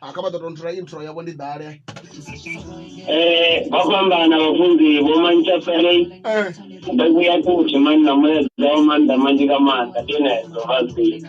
ha kha vha ḓo tou nthola intro yavho ndi ḓale Eh, vha fhambana vhafunzi vho mantsha pelei Eh, ndo vhuya kuthi mani na mulaedza wa maanḓa manzhi nga maanḓa ndi ene ḓo vha zwino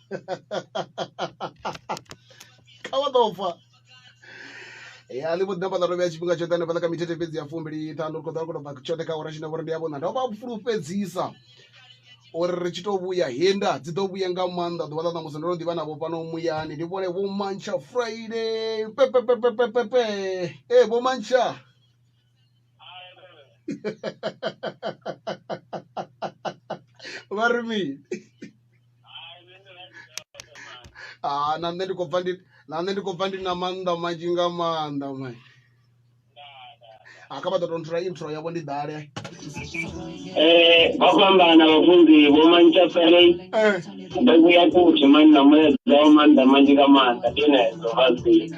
kha vha ḓo fa ya ḽi vho ḓina vhaḽa rovhea tshifhinga tshoṱhe hanefhaḽa kha mithethe fhedzi ya fumbili ṱhanu ri khou ḓa ri khou tou bva tshoṱhe kha ora tshine vhori ndi ya vhona ndo vha fulufhedzisa uri ri tshi tou vhuya henda dzi ḓo vhuya nga maanḓa ḓuvha ḽa ṋamusi ndo no ḓivha navho fhano muyani ndi vhone vho mantsha friday pepepepepepepe ee vho mantsha vha ri mini ah na nṋe ndi khou bva ndi na nṋe ndi khou bva ndi na maanḓa manzhi nga maanḓa mai a kha vha ḓo tonthula intro yavho ndi ḓale Eh, vha fhambana vhafunzi vho mantsha ferei Eh, ndo vhuya futhi mani na mulaedza wa maanḓa manzhi nga maanḓa ndi enezo vha zwino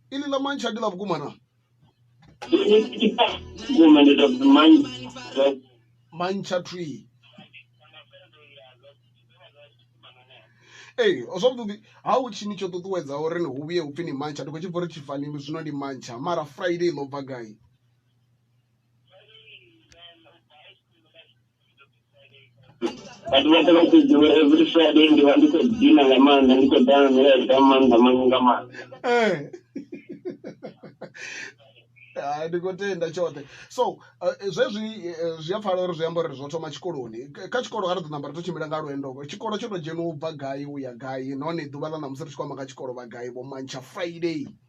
ili la manji adila vukuma na mancha tree ee zwavhuḓi ha u tshini tsho ṱuṱuwedza uri ni hu vhuye upfhi ni mantsha ndi khou tshi bva uri tshifani zwino ndi mantsha mara friday ḽo bva gai vhathu vha tea vha tshi ḓivha every friday ndi vha ndi khou dina nga maanḓa ndi khou ḓa na milaedza nga maanḓa manzhi nga maanḓa Eh. Hai, ndi khou tenda tshoṱhe so eh, zwezwi eh, zwi a pfala uri zwi amba uri zwo thoma tshikoloni K- kha tshikolo a ri ḓo namba ri to tshimbila nga lwendo tshikolo tsho to dzheniwa u bva gai u ya gai nahone ḓuvha ḽa ṋamusi ri tshi khou amba nga tshikolo vha gai vho mantsha friday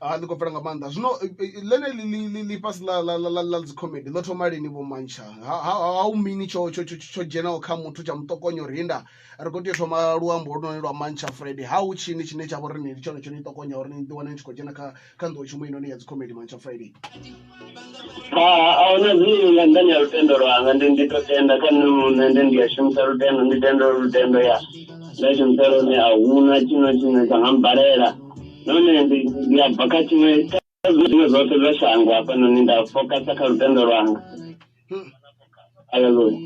ha ḽi khou pfela nga maanḓa zwino eh, eh, eh, ḽeneli ḽifhasi ḽa dzicomedy ḽo thoma lini vho mantsha ha u mini tsho dzhenaho kha muthu tsha muṱokonya uri inda ri khou tea u thoma luambo holunoni lwa mantsha friday ha u tshini tshine tsha vha uri ni ndi tshone tsho ni ṱokonya uri ni ḓiwane ni tshi khou dzhena kha kha nḓowetshumo heinoni ya dzikhomedi mantsha friday ahuna zwine nga nḓani ya lutendo lwanga ndi ndi to tenda kha nṋe muṋe ndi ndi a shumisa lutendo ndi tendo lutendo ya nda shumisa lone a huna tshino tshine tsha nga mbalela nahone ndi ndi a bva kha tshiṅwe kha zwiṅwe zwoṱhe zwa shango hafhanoni nda fokasa kha lutendo lwanga Hallelujah.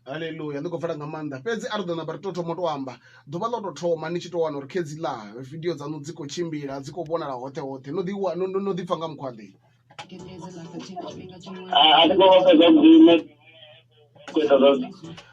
haleluya ndi khou pfela nga maanḓa fhedzi a ri ḓo namba ri tou thoma u tou amba ḓuvha ḽo tou thoma ni tshi tou wana uri khedzi ḽa vidio dzaṋu dzi khou tshimbila dzi khou vhonala hoṱhe hoṱhe no ḓi wa- no- no- no ḓipfa nga mukhwaḓe Ah, I think all of us are doing it. Quit of us.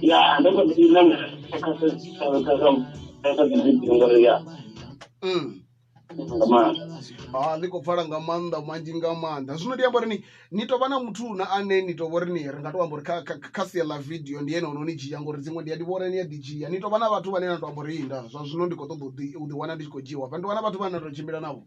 ya ndo mbo ḓi na kha kha kha dzi video ngori ya mm. nga maanḓa ha ah, ḽi khou pfala nga maanḓa manzhi nga maanḓa zwino ndi amba uri ni ni tovha na muthu na ane ni tovha uri ni ri nga to amba uri kha sia ḽa video ndi ene ono ni dzhia ngori dziṅwe ndi a ndi vhona ni a ḓi dzhia ni tovha na vhathu vhane na to amba uri inda zwa zwino ndi khou ṱoḓa u ḓi wana ndi tshi khou dzhiwa fha ndi wana vhathu vhane na to tshimbila navho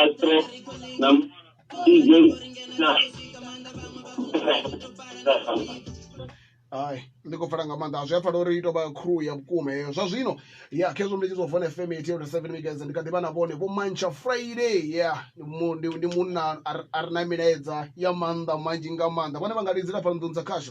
Astro na DJ na hai ndi khou pfela nga maanḓa zwi a pfala uri i tou vha crew ya vhukuma heyo zwa zwino ya khezwo ndi tshi zwa vone fm eighty eight seven megahertz ndi kha ḓi vha na vhone vho mantsha friday ya ndi mu- ndi ndi munna a re- a re na milaedza ya maanḓa manzhi nga maanḓa vhone vha nga lidzela fhano nḓuni dza khasho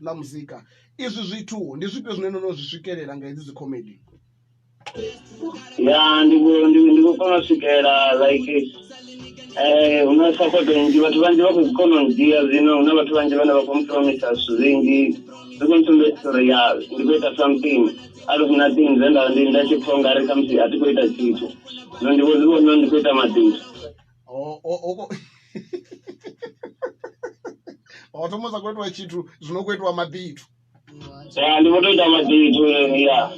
na muzika izwi zwithu ndi zwifhio zwine no no zwi swikelela nga hedzi dzikhomedi ya ndi ku- ndi ndi ku kona u swikela like eh hu na support nnzhi vhathu vhanzhi vha khou kona u dzhia zwino hu na vhathu vhanzhi vhane vha khou mpromisa zwithu zwinzhi zwi khou ntsumbedzisa uri ya ndi khou ita something out of nothing zwe nda ndi nda tshi pfha ungari khamusi a thi khou ita tshithu zwino ndi vho zwi vhona uri ndi khou ita mabindu O- o- oko- watomoza kuitwa chitu zvinokuitwa mabitu ya ndi kutoita mazitu ya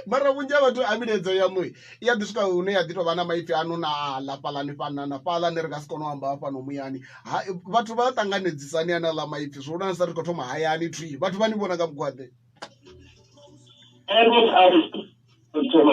mara vhunzhi ha vhathu a milaedzo yaṋu i ya ḓi swika hune ya ḓi tou vha na maipfi ano na ḽa fhaḽani fhana na fhaḽani ri nga si kone u amba hafhano muyani Ha- vhathu vha ṱanganedzisani ane aḽa maipfi zwo lwana sa ri khou thoma hayani thwi vhathu vha ni vhona nga mugwaḓe ende a thoma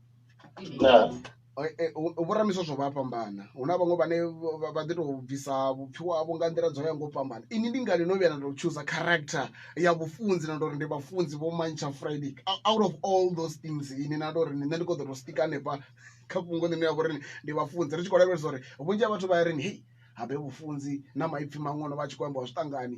Vhoramiso zwo vha a fhambana hu na vhaṅwe vhane vha ḓi to bvisa vhupfiwa havho nga nḓila dzo ya nga u fhambana, inwi ndi ngani no vhuya na to chooser character ya vhufunzi na tori ndi vhafunzi vho mantsha Friday out of all those things inwi na tori nṋe ndi kho ṱoḓa u stika hanefha kha fhungo ḽine ha vha uri ndi vhafunzi ri tshi khou lavhelesa uri vhunzhi ha vhathu vha ya ri hei habe vhufunzi na maipfi maṅwe ono vha a tshi kho ambiwa zwi ṱangani.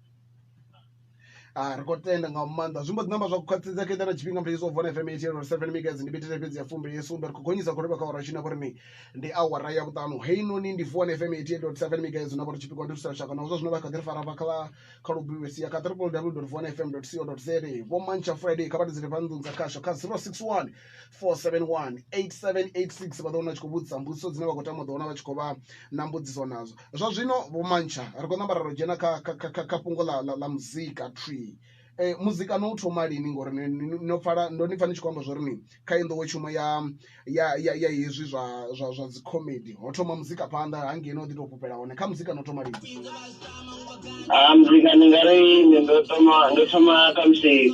Ah, ri khou tenda nga maanḓa zwi mbo ḓi namba zwa khwaṱhisedza kha na tshifhinga muthu yeso vona fm eighty eight seven megas ndi bethe fhedzi ya fumbe ye sumbe ri khou gonyisa khou livha kha ora tshine khou ri ni ndi awara ya vhuṱanu heinoni ndi vuwa na fm eighty eight dot seven megas na vha ri tshipikwa ndi thusa lushaka na zwa zwino vha kha ḓi ri fara vha kha kha lubivhe sia kha triple w dot vuwa na fm dot co dot za vho mantsha friday kha vha ri dzule fha nnḓu dza khasho kha zero six one 471 8786 vha ḓo wana tshi khou vhudzisa mbudziso dzine vha khou tama u ḓo wana vha tshi khou vha na mbudziso nadzo zwa zwino vho mantsha ri khou namba ra ro dzhena kha kha fhungo ḽa ḽa muzika tree eh, muzika no u thoma lini ngori no pfala ndo ni pfa ni tshi khou amba zwo ri ni kha i nḓowetshumo ya ya ya ya hezwi zwa zwa zwa dzi comedy ho thoma muzika phanḓa hangei no ḓi tou fhufhela hone kha muzika no thoma lini ha ah, muzika ndi nga ri ndo thoma ndo thoma kha musi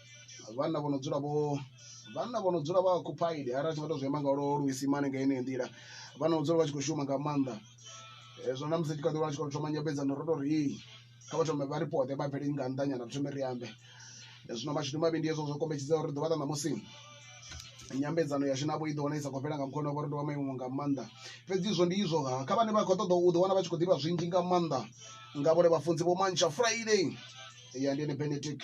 vhanna vho no dzula vho vhanna vho no dzula vha occupied arali ri tshi nga to zwi amba nga lwo luisimane nga yeneyo nḓila vha no dzula vha tshi kho shuma nga maanḓa. Hezwo na musi ri tshi kha ḓi wana ri tshi khou thoma nyambedzano ro tori hei kha vha thome vha ri fhaṱe vha bvele nga nnḓa nyana ri thome ri ambe, zwino mashudu mavhi ndi hezwo zwo kombetshedza uri ḓuvha ḽa ṋamusi nyambedzano yashu navho i ḓo wana i sa khou fhela nga mukhweno wavho uri ndi wa maimo nga maanḓa. Fhedzi izwo ndi izwo ha kha vhane vha khou ṱoḓa u ḓi wana vha tshi khou ḓivha zwinzhi nga maanḓa nga vhone vhafunzi vho mantsha Friday ya ndi ene Benedict.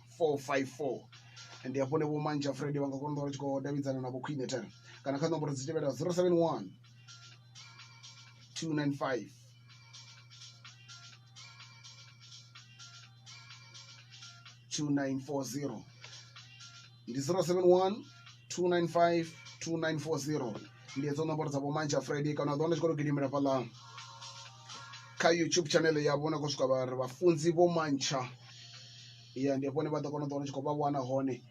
four five four ndi hafhone vho manzha fred vha nga kona u vha tshi khou davhidzana na vho khwine ten kana kha nomboro dzi tevhelaho zero seven one two nine five two nine four zero ndi zero seven one two nine five two nine four zero ndi hedzo nomboro dza vho manzha fred kana u ḓo wana tshi khou to gidimela fhaḽa kha youtube channel yavho na khou swika vha ri vhafunzi vho mantsha ya ndi hafho hune vha ḓo kona u ḓi wana ndi tshi khou vha wana hone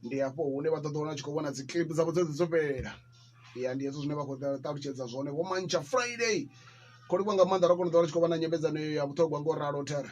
ndi hafho hune vha ḓo ḓi wana u tshi khou vhona dzi clip dzavho dzedzi dzo fhelela ya ndi hezwo zwine vha khou ṱalutshedza zwone vho mantsha Friday kho livhuwa nga maanḓa ra kona u ḓi wana u tshi khou vha na nyambedzano iyo ya vhuṱhogwa ngo ralo thera